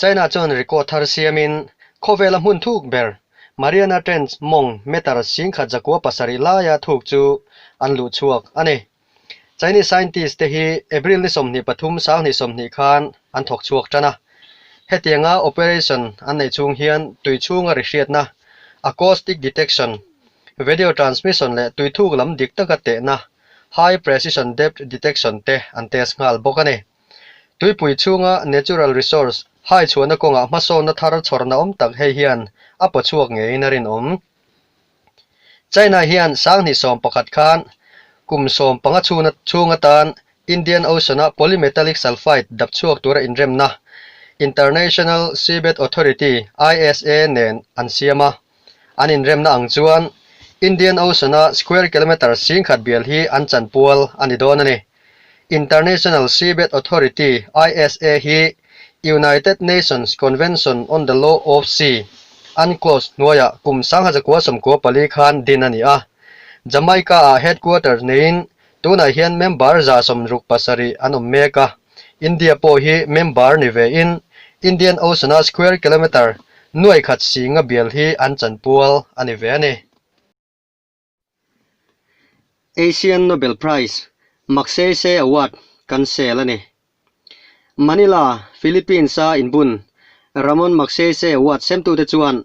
China chuan rico thar siamin khawvela hmun thuk ber Mariana Trench mawng meter sing khat zakua pasarih laia thuk chu an luh chhuak a ni. Chinese scientist te hi April ni sawmhnih pathum sanghnih sawmhnih khan an thawk chhuak tan a. Hetianga operation an neih chhung hian tui chhunga ri hriatna, acoustic detection, vedio transmission leh tui thuk lam dik taka tehna, high precision depth detection te an test nghal bawk a ni. Tuipui chhunga Natural Resource haichhuahna kawngah hmasawnna thar chhawrna awm tak hei hian a paw chhuak ngeiin a rinawm. China hian sanghnih sawm pakhat khan kum sawm panga chhuna chhung atan Indian Ocean-a polymetallic sulphide dap chhuak tura inremna International Seabed Authority, ISA, nen an siam a. An inremna ang chuan Indian Ocean-a square kilometre sing khat bial hi an chanpual a ni dawn a ni. International Seabed Authority, ISA, hi United Nations Convention on the Law of Sea, UNCLOS, hnuaiah kum sangha zakua sawmkua pali khan din a ni a. Jamaica-ah headquarter neiin tunah hian member za sawmruk pasarih an awm mek a. India pawh hi member ni ve in Indian Ocean a square kilometre nuai khat singa bial hi an chanpual a ni ve a ni. Asian Nobel Prize Magsaysay Award kan sel a ni. Manila, Philippines a inbun Ramon Magsaysay Award semtute chuan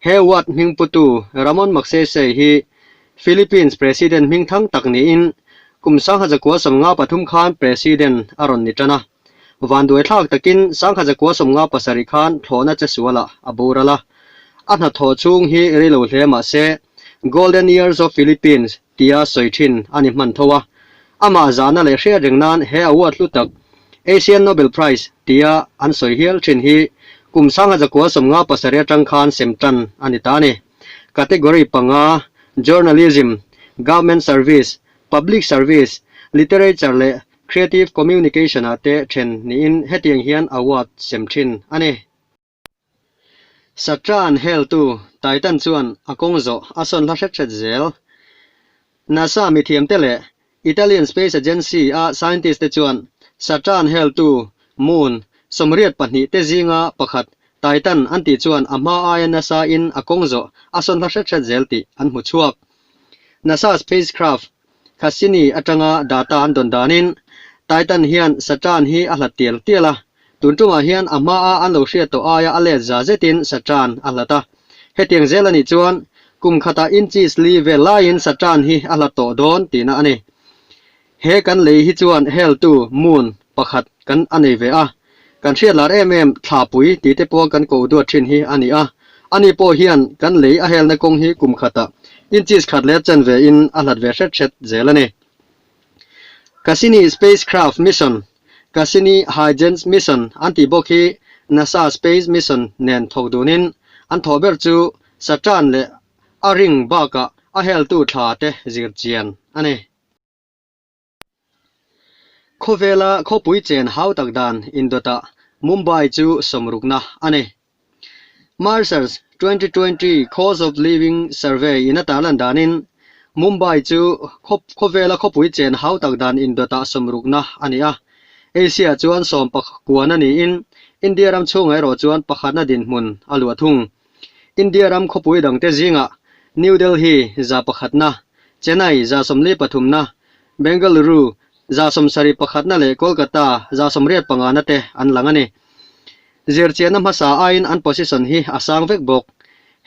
He ward hmingputu Ramon Magsaysay hi Philippines President hming thang tak niin kum sangha zakua sawmnga pathum khan President a rawn ni tan a. Vanduaithlak takin sangha zakua sawmnga pasarih khan thlawhna che sualah a bur a la. A hnathawh chhung hi rilo hle mahse, Golden Years of Philippines, tia sawi thin a ni hman tho a. Amah zana leh hriat reng nan he award hlu tak, Asian Nobel Prize, tia an sawi hial thin hi kum sanga zakua sawmnga pasarih atang khan sem tan a ni ta a ni. Category panga, Journalism, Government Service, Public Service, Literature leh Creative Communication-ah te then niin hetiang hian award sem thin a ni. Satra an heltu Titan chuan a kawng zawh a sawn hla hret hret zel. NASA mithiamte leh Italian Space Agency a scientist te chuan Satra an heltu Moon sawmriat pahnih te zinga pakhat Titan an tih chuan a hma aia NASA-in a kawng zawh a sawn hla hret hret zel tih an hmu chhuak. NASA spacecraft Cassini atanga data an dawn danin, Titan hian Satan hi a hlat tial tial a. Tun ṭumah hian a hmaa an lo hriat tawh aia a let za zetin Satan a hlat a. Hetiang zel a nih chuan, kum khata inches li vel laiin Satan hi a hlat tawh dawn tina a ni. He kan lei hi chuan hell-tu, moon, pakhat kan a nei ve a, kan hriatlar em em thlapui tite pawh kan ko duat thin hi a ni a, ani pawh hian kan lei a helna kawng hi kum khatah inches khat leh chen ve in a hlat ve hret hret zel a ni. Cassini Spacecraft Mission, Cassini Huygens Mission an tih bawk hi NASA Space Mission nen thawk dun in an thawh ber chu Saturn leh a ring bakah a heltu thlate zir chian a ni. Khawvela khawpui chen hau tak dan indawtah Mumbai chu sawm rukna a nei. Marshals twenty twenty Cost of Living Survey in atar lan danin Mumbai chu khawvela khawpui chen hau tak dan indawtah sawm rukna a ni a. Asia chuan sawm pakhat kuana niin India ram chhunga erawh chuan pakhatna dinhmun a luah thung. India ram khawpui dangte zingah New Delhi za pakhatna, Chennai za sawmli pathumna, Bengaluru za sawmsarih pakhatna leh Kolkata za sawmriat pangahna te an lang a ni. Zirchianna hmasa aiin an position hi a sang vek bawk.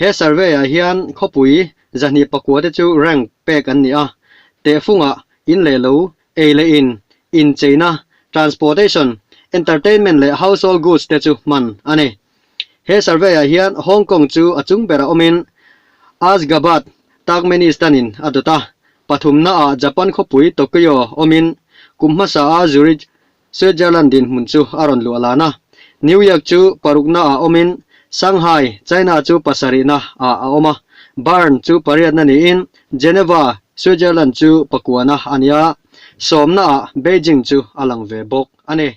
He survey-ah hian khawpui za hnih pakua te chu rank pek an ni a, tehfunga, in leh lo, ei leh in, incheina, transportation, entertainment leh household goods te chu hman a ni. He survey-ah hian Hong Kong chu a chung berah awmin Asgabat, Turkmenistan-in a dawt a, pathumnaah Japan khawpui Tokyo awmin kum hmasaa Zurich, Switzerland-in hmun chu a rawn luh alan a. New York chu paruknaah awmin Shanghai, China chu pasarihna ah a awm a, Bern chu pariatna niin Geneva, Switzerland chu pakuana a nia. Sawmnaah Beijing chu a lang ve bawk a ni.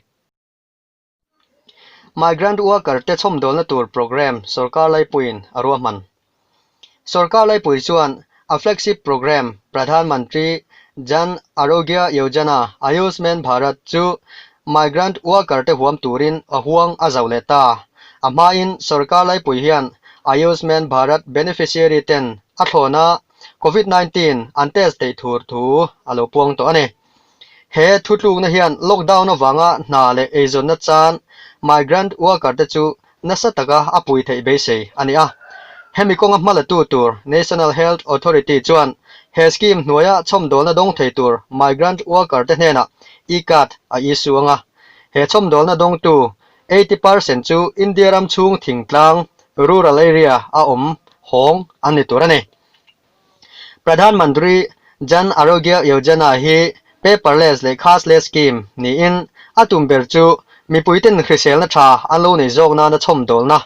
Migrant worker te chhawmdawlna tur programme sawrkar laipuiin a ruahman. Sawrkar laipui chuan a flagship programme Pradhan Mantri Jan Arogya Yojana, Ayushman Bharat, chu migrant worker te huam turin a huang a zauh leh ta. A hmain sawrkar laipui hian Ayushman Bharat beneficiary ten a thlawna Covid nineteen an test theih thur thu a lo puang tawh a ni. He thu tlukna hian lockdown avanga hna leh eizawnna chan migrant worker te chu nasa taka a pui theih beisei a ni a. Hemi kawnga hma la tu tur National Health Authority chuan he scheme hnuaia chhawmdawlna dawng thei tur migrant worker te hnenah e-card a issue ang a. He chhawmdawlna dawngtu eighty percent chu India ram chhung thingtlang, rural area, a awm hawng an ni tur a ni. Pradhan Mantri Jan Arogya Yojana hi Paperless leh Cashless Scheme niin a tum ber chu mipuiten hriselna tha an lo nei zawk nana chhawmdawlna,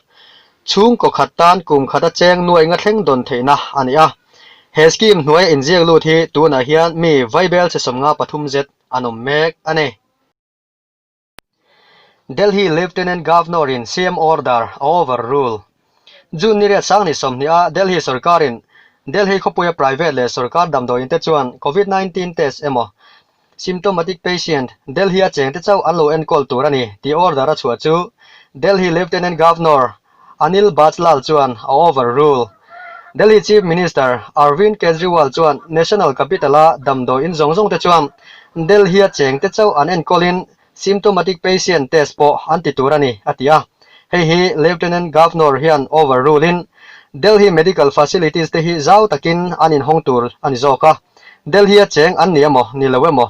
chhungkaw khat tan kum khata cheng nuainga thleng dawn theihna a ni a. He scheme hnuaia inziak lut hi tunah hian mi vaibel chi sawmnga pathum zet an awm mek a ni. Delhi Lieutenant Governor-in siam order a overrule. June ni riat sang ni sawmhnih a Delhi sawrkarin Delhi khawpuia private leh sawrkar damdawiin te chuan Covid nineteen test emaw symptomatic patient Delhi-a chengte chauh an lo enkawl tur a ni tih order a chhuah chu Delhi Lieutenant Governor Anil Bajlal chuan a overrule. Delhi Chief Minister Arvind Kejriwal chuan National Capital-a damdawi in zawng zawngte chuan Delhi-a chengte chauh an enkawlin symptomatic patient test pawh an ti tur a ni, a ti a. Hei hi Lieutenant Governor hian overrule-in Delhi medical facilities-te hi zau takin an inhawng tur a ni zawk a. Delhi-a cheng an ni emaw ni lo emaw